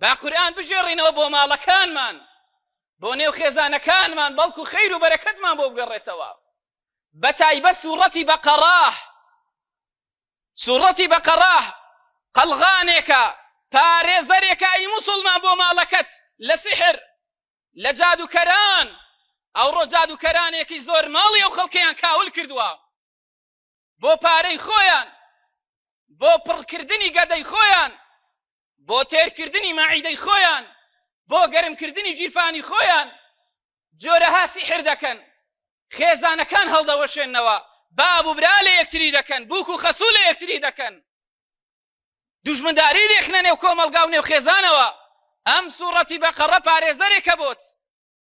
با قورئان بگێڕینەوە بۆ ماڵەکانمان بۆ نێو خێزانەکانمان بەڵکو خیر و بەرەکەتمان بۆ بگەڕێتەوە بە تایبەت سوڕەتی بەقەڕاه سوڕەتی بەقەڕاه قەلغانێکە پارێزەرێکە ئی موسڵمان بۆ ماڵەکەت لە سحر لە جادوکەران ئەوڕۆ جادوکەرانێکی زۆر ماڵی ئەو خەڵکەیان کاول کردووە بۆ پارەی خۆیان بۆ پڕکردنی گەدەی خۆیان بۆ تێرکردنی مەعیدەی خۆیان بۆ گەرمکردنی گیرفانی خۆیان جۆرەها سیحر دەکەن خێزانەکان هەڵدەوەشێنەوە باب و برا لە یەکتری دەکەن بووک و خەسوو لە یەکتری دەکەن دوژمنداری دێخنە نێو کۆمەلگا و نێو خێزانەوە ئەم سوڕەتی بەقەڕە پارێزەرێکە بۆت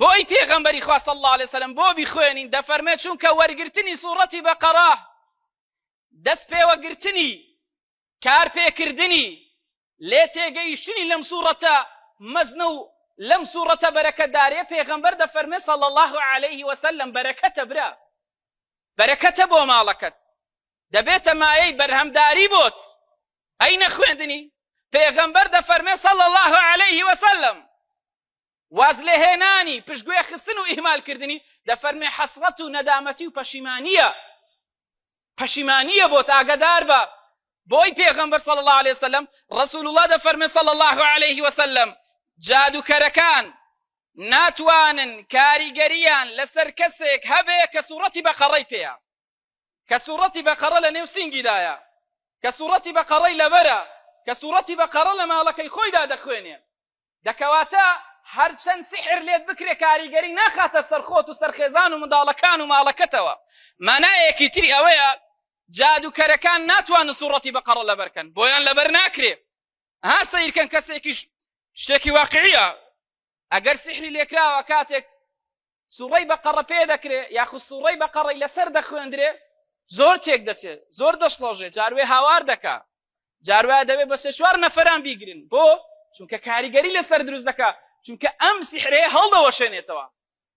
بۆ ئەی پێغەمبەری خوا صلی الله علیه وسلم بۆ بیخوێنین دەفەرمێ چونکە وەرگرتنی سوڕەتی بەقەرە دەست پێوەگرتنی کار پێکردنی لێ تێگەیشتنی لەم سوڕەتە مەزنە و لەم سوڕەتە بەرەکەدارێ پێغەمبەر دەفەرمێ صلی الله علیه وسلم بەرەکەتە برا بەرەکەتە بۆ ماڵەکەت دەبێتە مایەی بەرهەمداری بۆت ئەی نەخوێندنی پێغەمبەر دەفەرمێ صلی الله علیه وسلم واز لێهێنانی پشتگوێ خستن و ئیهمالکردنی دەفەرمێ حەسرەت و نەدامەتی و پەشیمانیە پەشیمانیە بۆ تاگەدار بە بۆی پێغەمبەر صلی الله عليه وسلم رسول الله دەفەرمێ صلی الله عليه وسلم جادوکەرەکان ناتوانن کاریگەریان لەسەر کەسێک هەبێ کە سوورەتی بەقەڕەی پێیان کە سوڕەتی بەقەڕە لە نێو سینگیدایە کە سوڕەتی بەقەڕەی لەبەرە کە سوڕەتی بەقەڕە لە ماڵەکەی خۆیدا دەخوێنێ دەکەواتە هەرچەند سحر لێت بکرێ کاریگەری ناخاتە سەرخۆت و سەرخێزان و منداڵەکان و ماڵەکەتەوە مانایەکی تری ئەوەیە جادوکەرەکان ناتوانن سوڕەتی بەقەڕە لەبەرکەن بۆیان لەبەر ناکرێ ها سیرکەن کەسێکیش شتێکی واقعیە ئەگەر سحری لێکراوە کاتێک سوڕی بە قەڕە پێ دەکرێ یاخود سوڕی بە قەڕی لەسەر دەخوێندرێ زۆر تێک دەچێت زۆر دەشڵەژێ جاروێ هاوار دەکا جاروە دەوێت بە سێ چوار نەفران بیگرن بۆ چونکە کاریگەری لەسەر دروست دەکا چونکە ئەم سیحرەیە هەڵدەوەشێنێتەوە